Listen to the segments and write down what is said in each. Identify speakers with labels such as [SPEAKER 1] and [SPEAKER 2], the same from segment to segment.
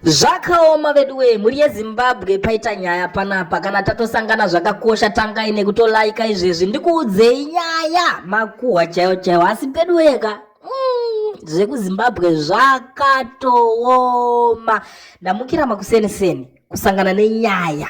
[SPEAKER 1] Zvakaoma veduwee, mhuri yeZimbabwe paita nyaya panapa. Kana tatosangana zvakakosha tangai nekutolaika izvezvi ndikuudzei nyaya makuhwa chaiwo chaiwo, asi peduwee ka mm, zvekuzimbabwe zvakatooma. Ndamukira makuseni seni kusangana nenyaya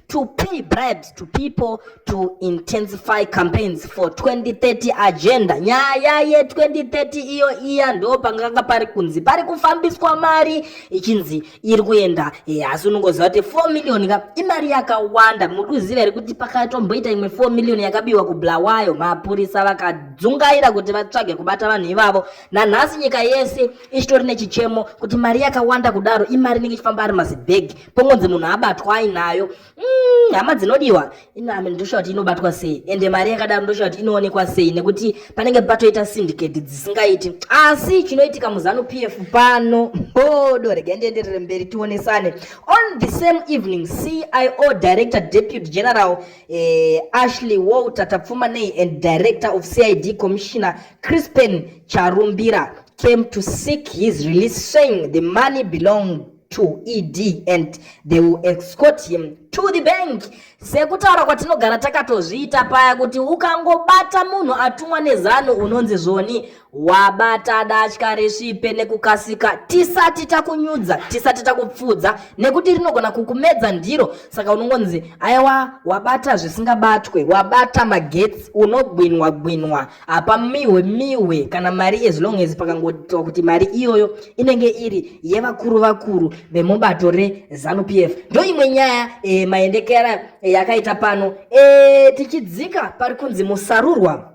[SPEAKER 1] to pay bribes to people to intensify campaigns for 2030 agenda nyaya ye2030 iyo iya ndo panganga pari kunzi pari kufambiswa mari ichinzi iri kuenda eh, asi unongoziva kuti 4 million ka imari yakawanda muri kuziva here kuti pakatomboita imwe 4 million yakabiwa kublawayo mapurisa vakadzungaira kuti vatsvage kubata vanhu ivavo nanhasi nyika yese ichitori nechichemo kuti mari yakawanda kudaro imari inenge ichifamba ari mazibhegi pongonzi munhu abatwa ainayo mm, hama mm, dzinodiwa inami ndoshuwa kuti inobatwa sei ende mari yakadaro ndoshuwa kuti inoonekwa sei nekuti panenge patoita syndicate dzisingaiti asi chinoitika muzanu p f pano bodo rega ndienderere mberi tionesane on the same evening cio director deputy general eh, ashley walter tapfumanei and director of cid commissioner crispen charumbira came to seek his release saying the money belonged to ED and they will escort him to the bank. Sekutaura kwatinogara takatozviita paya kuti ukangobata munhu atumwa nezano unonzi zvoni wabata datya resvipe nekukasika tisati takunyudza tisati takupfudza nekuti rinogona kukumedza ndiro saka unongonzi aiwa wabata zvisingabatwe wabata magetsi unogwinwa gwinwa apa mihwe mihwe kana mari as long as pakangotiwa kuti mari iyoyo inenge iri yevakuru vakuru vemubato rezanupf ndo imwe nyaya e, maendekera e, yakaita pano e, tichidzika pari kunzi musarurwa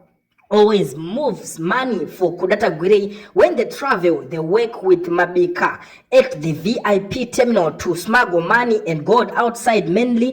[SPEAKER 1] always moves money for Kudatagwirei when they travel they work with Mabika at the VIP terminal to smuggle money and gold outside mainly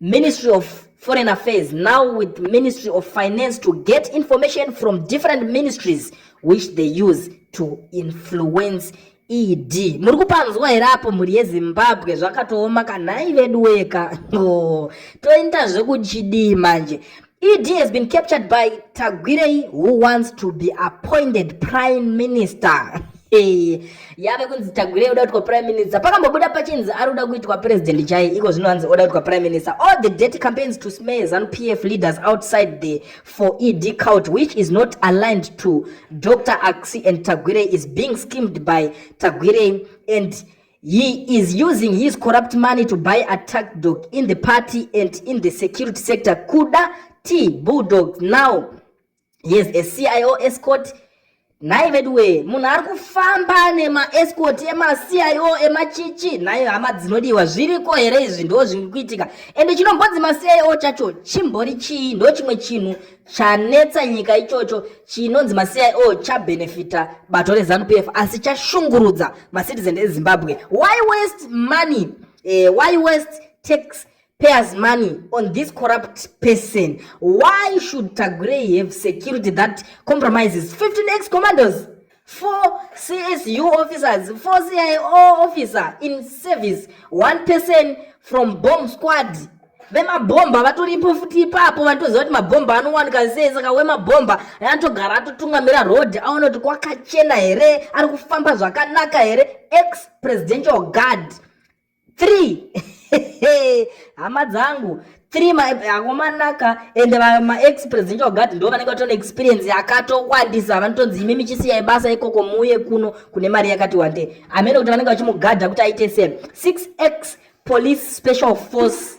[SPEAKER 1] Ministry of Foreign Affairs now with Ministry of Finance to get information from different ministries which they use to influence ED. Muri kupanzwa here apo mhuri yeZimbabwe zvakatooma kanhai vedu weka. Oh, toenda zvekuchidii manje. ED has been captured by Tagwirei who wants to be appointed prime minister. Hey, yave kunzi Tagwirei oda kuitwa prime minister. Pakambobuda pachinzi ari kuda kuitwa president chai, iko zvino hanzi oda kuitwa prime minister. All the dirty campaigns to smear ZANU PF leaders outside there for ED cult which is not aligned to Dr. Aksi and Tagwirei is being schemed by Tagwirei and He is using his corrupt money to buy attack dog in the party and in the security sector. Kuda T Bulldogs now. He is a CIO escort. Nhai veduwe, munhu ari kufamba nemaescort emaCIO emachichi, nhai hama dzinodiwa, zviriko here izvi? Ndo zviri kuitika. Ende chinombodzi maCIO chacho chimbori chii? Ndo chimwe chinhu Chanetsa nyika ichocho chinonzi maCIO chabenefita bato reZanu PF asi chashungurudza macitizen eZimbabwe. Why waste money? Eh, why waste tax payers money on this corrupt person? Why should Tagurei have security that compromises 15 ex-commanders? four csu officers four cio officer in service one person from bomb squad vemabhomba vatoripo futi ipapo vanotoziva kuti mabhomba anowanika sei saka wemabhomba anotogara atotungamira road aona kuti kwakachena here ari kufamba zvakanaka here ex presidential guard three hama dzangu three akomanaka ende maexpresident ogati ndo vanenge vatone experience yakatowandisa vanotonzi imi michisiya ibasa ikoko muuye kuno kune mari yakati wandei amene kuti vanenge vachimugadha kuti aite se 6x police special force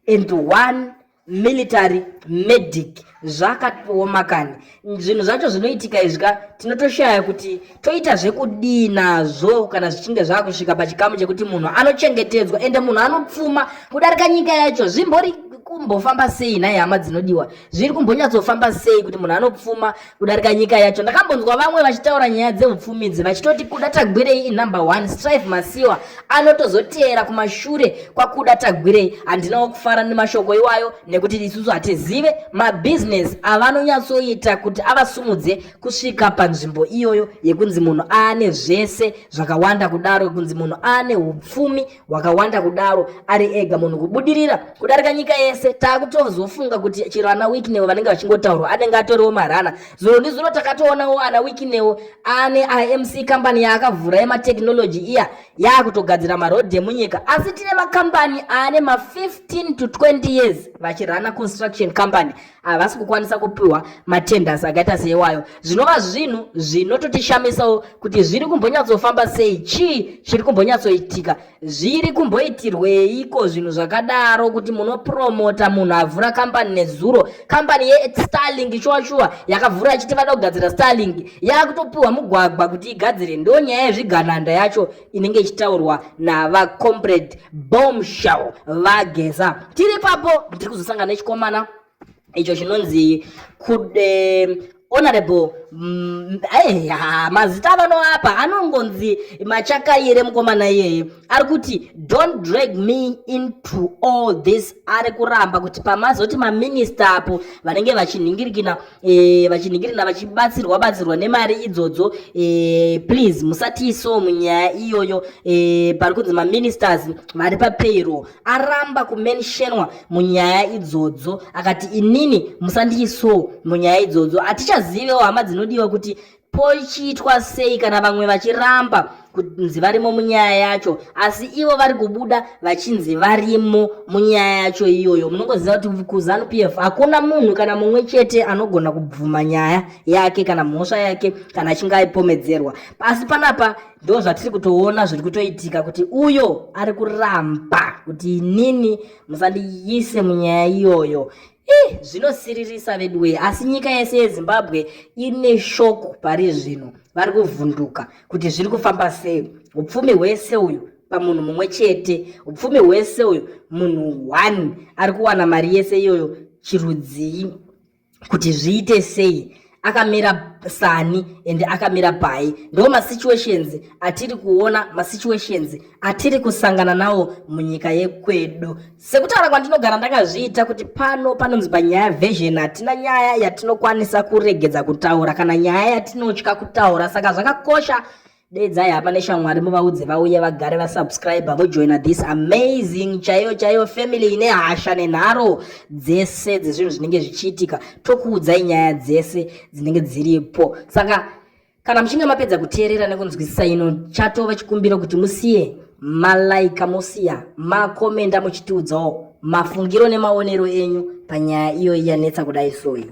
[SPEAKER 1] and one military medic zvakatooma kani zvinhu zvacho zvinoitika izvi ka tinotoshaya kuti toita zvekudii nazvo kana zvichinge zvakusvika pachikamu chekuti munhu anochengetedzwa ende munhu anopfuma kudarika nyika yacho zvimbori kumbofamba sei nhai hama dzinodiwa zviri kumbonyatsofamba sei kuti munhu anopfuma kudarika nyika yacho ndakambonzwa vamwe vachitaura nyaya dzeupfumidzi vachitoti kuda tagwirei inumber one strive masiwa anotozoteera kumashure kwakuda tagwirei handinawo kufara nemashoko iwayo nekuti isusu hatizive mabhizinesi avanonyatsoita kuti avasumudze kusvika panzvimbo iyoyo yekunzi munhu aane zvese zvakawanda kudaro kunzi munhu aane upfumi wakawanda kudaro ari ega munhu kubudirira kudarika nyika yese takutozofunga kuti chero ana wikinewo vanenge vachingotaurwa anenge atoriwo marana zuro ndizuro takatoonawo ana wikinewo ane imc kambani yaakavhura yematechnology iya yaakutogadzira marodhi emunyika asi tine makambani ane ma15 to 20 years vachirana construction company havasi kukwanisa kupiwa matenders akaita seiwayo zvinova zvinhu zvinototishamisawo kuti zviri kumbonyatsofamba sei chii chiri kumbonyatsoitika zviri kumboitirweiko zvinhu zvakadaro kuti munopromota munhu avhura kambani nezuro kambani yestarling shuwa shuwa yakavhura ichiti vada kugadzira starling yakutopiwa mugwagwa kuti igadzire ndo nyaya yezvigananda yacho inenge ichitaurwa navacomrade bombshell vageza tiri papo ndiri kuzosangana nechikomana icho chinonzi kude honorable mm, aiha mazita avanoapa anongonzi machakayire mukomana iyeye ari kuti don't drag me into all this ari kuramba kuti pamazoti maminista apo vanenge vachinhingirikina e, vachinhingirina vachibatsirwa batsirwa nemari idzodzo e, please musatii so munyaya iyoyo e, pari kunzi maministers vari papayroll aramba kumentionwa munyaya idzodzo akati inini musandiisowo munyaya idzodzo hatichazivewo hama dzinodiwa kuti pochiitwa sei kana vamwe vachiramba kunzi varimo munyaya yacho asi ivo vari kubuda vachinzi varimo munyaya yacho iyoyo munongoziva kuti kuzanu p f hakuna munhu kana mumwe chete anogona kubvuma nyaya yake kana mhosva yake kana achinge aipomedzerwa pasi panapa ndo zvatiri kutoona zviri kutoitika kuti uyo ari kuramba kuti inini musandiyise munyaya iyoyo Ih, zvinosiririsa veduwee asi nyika yese yezimbabwe ine shoko pari zvino vari kuvhunduka kuti zviri kufamba sei upfumi hwese uyu pamunhu mumwe chete upfumi hwese uyu munhu one ari kuwana mari yese iyoyo chirudzii kuti zviite sei akamira sani ende akamira pai ndo masituations atiri kuona masituations atiri kusangana nawo munyika yekwedu sekutaura kwandinogara ndakazviita kuti pano panonzi panyaya version hatina nyaya yatinokwanisa kuregedza kutaura kana nyaya yatinotya kutaura saka zvakakosha Dedzai hama neshamwari muvaudze vauye vagare vasubscriber vojoina this amazing chaiyo chaiyo family ine hasha nenharo dzese dzezvinhu zvinenge zvichiitika tokuudzai nyaya dzese dzinenge dziripo saka kana muchinge mapedza kuteerera nekunzwisisa ino chatova chikumbiro kuti musiye malaika mosiya makomenda muchitiudzawo mafungiro nemaonero enyu panyaya iyoyi yanetsa kudai soyi